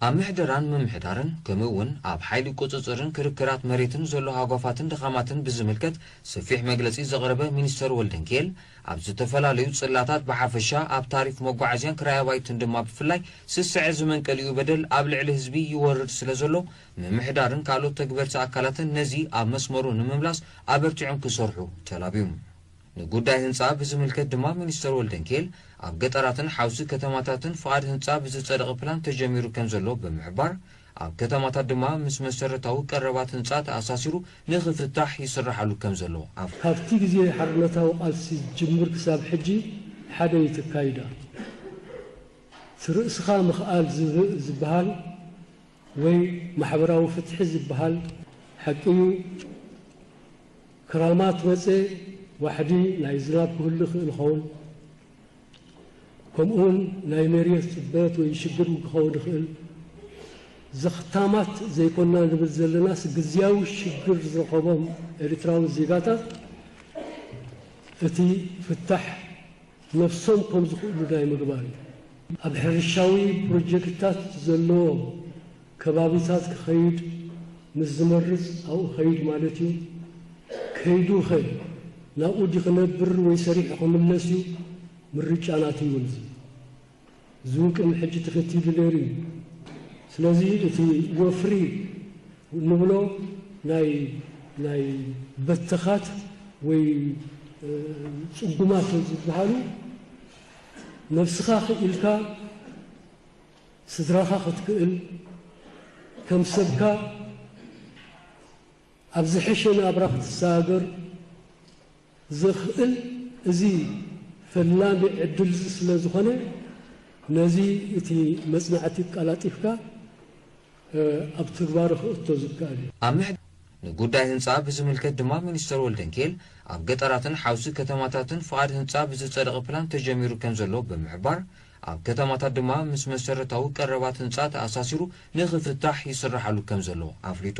ኣብ ምሕደራን ምምሕዳርን ከምኡ እውን ኣብ ሓይሊ ቁፅፅርን ክርክራት መሬትን ዘሎ ሃጓፋትን ድኻማትን ብዝምልከት ሰፊሕ መግለፂ ዘቕረበ ሚኒስተር ወልደንኪኤል ኣብ ዝተፈላለዩ ፅላታት ብሓፈሻ ኣብ ታሪፍ መጓዓዝያን ክራይ ኣባይትን ድማ ብፍላይ ስስዐ ዝመንቀሊኡ በደል ኣብ ልዕሊ ህዝቢ ይወርድ ስለዘሎ ምምሕዳርን ካልኦት ተግበርቲ ኣካላትን ነዚ ኣብ መስመሩ ንምምላስ ኣበርቲዖም ክሰርሑ ተላብዩ። ንጉዳይ ህንጻ ብዝምልከት ድማ ሚኒስተር ወልደንኬል፣ ኣብ ገጠራትን ሓውሲ ከተማታትን ፍቓድ ህንጻ ብዝጸደቐ ፕላን ተጀሚሩ ከምዘሎ ብምሕባር፣ ኣብ ከተማታት ድማ ምስ መሰረታዊ ቀረባት ህንጻ ተኣሳሲሩ ንኽፍታሕ ይስራሓሉ ከምዘሎ ኣፍ። ካብቲ ግዜ ሓርነታዊ ቃልሲ ዝጅምር ክሳብ ሕጂ ሓደ እዩ ትካይዳ። እቲ ርእስኻ ምኽኣል ዝበሃል ወይ ማሕበራዊ ፍትሒ ዝበሃል ሓቂ'ዩ። ክራማት መጸ ዋሕዲ ናይ ዝናብ ክህሉ ይኽእል ይኸውን፣ ከምኡውን ናይ መሬት ጽበት ወይ ሽግር ክኸውን ይኽእል። ዘኽታማት ዘይኮና ንብል ዘለናስ ግዝያዊ ሽግር ዝረኸቦም ኤሪትራዊ ዜጋታት እቲ ፍታሕ ነብሶም ከም ዝኽእሉ ናይ ምግባር እዩ። ኣብ ሕርሻዊ ፕሮጀክትታት ዘለዎ ከባቢታት ክኸይድ ምስ ዝመርጽ ኣብኡ ከይድ ማለት እዩ። ከይዱኸ ናብኡ ድዩ ክነብር ወይ ሰሪሑ ክምለስ እዩ? ምርጫ ናቱ እዩ። እዚ። እዚ እውን ቅድሚ ሕጂ ተኸቲሉ ነይሩ እዩ። ስለዚ እቲ ወፍሪ እንብሎ ናይ ናይ በተኻት ወይ ጽጉማት ዝበሃሉ ነብስኻ ክኢልካ ስድራኻ ክትክእል ከም ሰብካ ኣብ ዝሐሸ ናብራ ክትሰጋገር፣ ዘኽእል እዚ ፈላሚ ዕድል'ዚ ስለ ዝኾነ፣ ነዚ እቲ መጽናዕቲ ኣቀላጢፍካ ኣብ ትግባረ ክእቶ ዝከኣል እዩ። ኣብ ምሕድ። ንጉዳይ ህንጻ ብዝምልከት ድማ ሚኒስተር ወልደንኪኤል፣ ኣብ ገጠራትን ሓውሲ ከተማታትን ፍቓድ ህንጻ ብዝጸደቐ ፕላን ተጀሚሩ ከም ዘሎ ብምሕባር፣ ኣብ ከተማታት ድማ ምስ መሰረታዊ ቀረባት ህንጻ ተኣሳሲሩ ንኽፍታሕ ይስራሓሉ ከም ዘሎ ኣፍሊጡ።